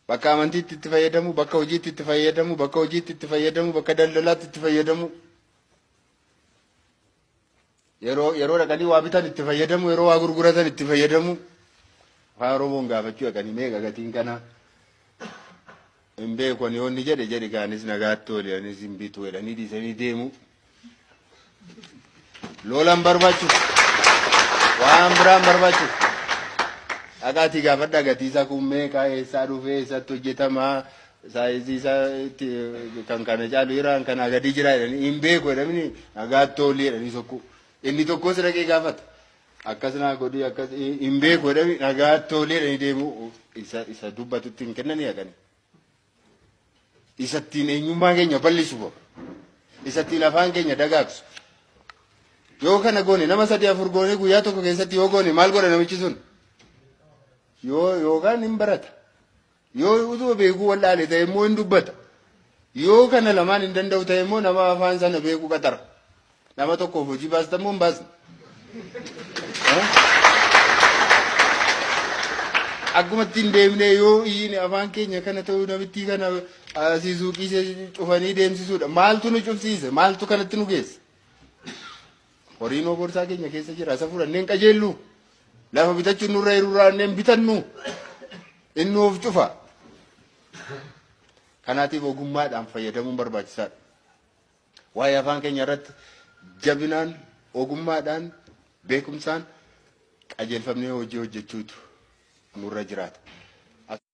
Bakka amantiitti itti fayyadamuu, bakka hojiitti itti fayyadamuu, bakka hojiitti itti fayyadamuu, bakka daldalaatti itti fayyadamuu. Yeroo yeroo dhaqanii waa bitan itti fayyadamuu, yeroo waa gurguratan itti fayyadamuu. Afaan Oromoon gaafachuu dhaqanii meeqa gatiin kanaa? Hin beeku ani yoonni jedhe jedhi kaanis nagaatti ooli anis hin bitu jedhanii dhiisanii deemuu. Loolan barbaachu waan biraan barbaachu dhaqaatii gaafadhaa gatii isaa kun meeqa eessaa dhufee eessatti hojjetamaa saayizii isaa itti kan kana caalu iraan kanaa gadii jira jedhanii hin beeku jedhamni nagaatti oolii jedhanii sokkuu inni tokkos dhaqee gaafata akkas naa godhii akkas hin beeku jedhamni nagaatti oolii jedhanii deemuu isa isa dubbatutti hin kennanii haqanii. isa ittiin eenyummaa keenya bal'isu bahu, isa ittiin afaan keenya dagaagsu. Yoo kana goone nama sadii afur goone guyyaa tokko keessatti yoo goone maal godha namichi sun? Yoo yookaan hin barata. Yoo utuma beekuu wal'aale ta'e immoo hin dubbata. Yoo kana lamaan hin danda'u ta'e immoo nama afaan sana beeku qaxara. Nama tokkoof hojii baastan moo hin baasne? Akkuma ittiin deemnee yoo iyyine afaan keenya kana ta'uu namittii kana asii suuqii ishee cufanii deemsisuudha. Maaltu nu cufsiise? Maaltu kanatti nu geesse? Horiin oborsaa keenya keessa jira. Isa fudhannee hin qajeellu. Lafa bitachuun nurra hir'uuraannee hin bitannu. Inni of cufa. Kanaatiif ogummaadhaan fayyadamuun barbaachisaadha. Waa'ee afaan keenya irratti jabinaan, ogummaadhaan, beekumsaan qajeelfamnee hojii hojjechuutu nurra jiraata.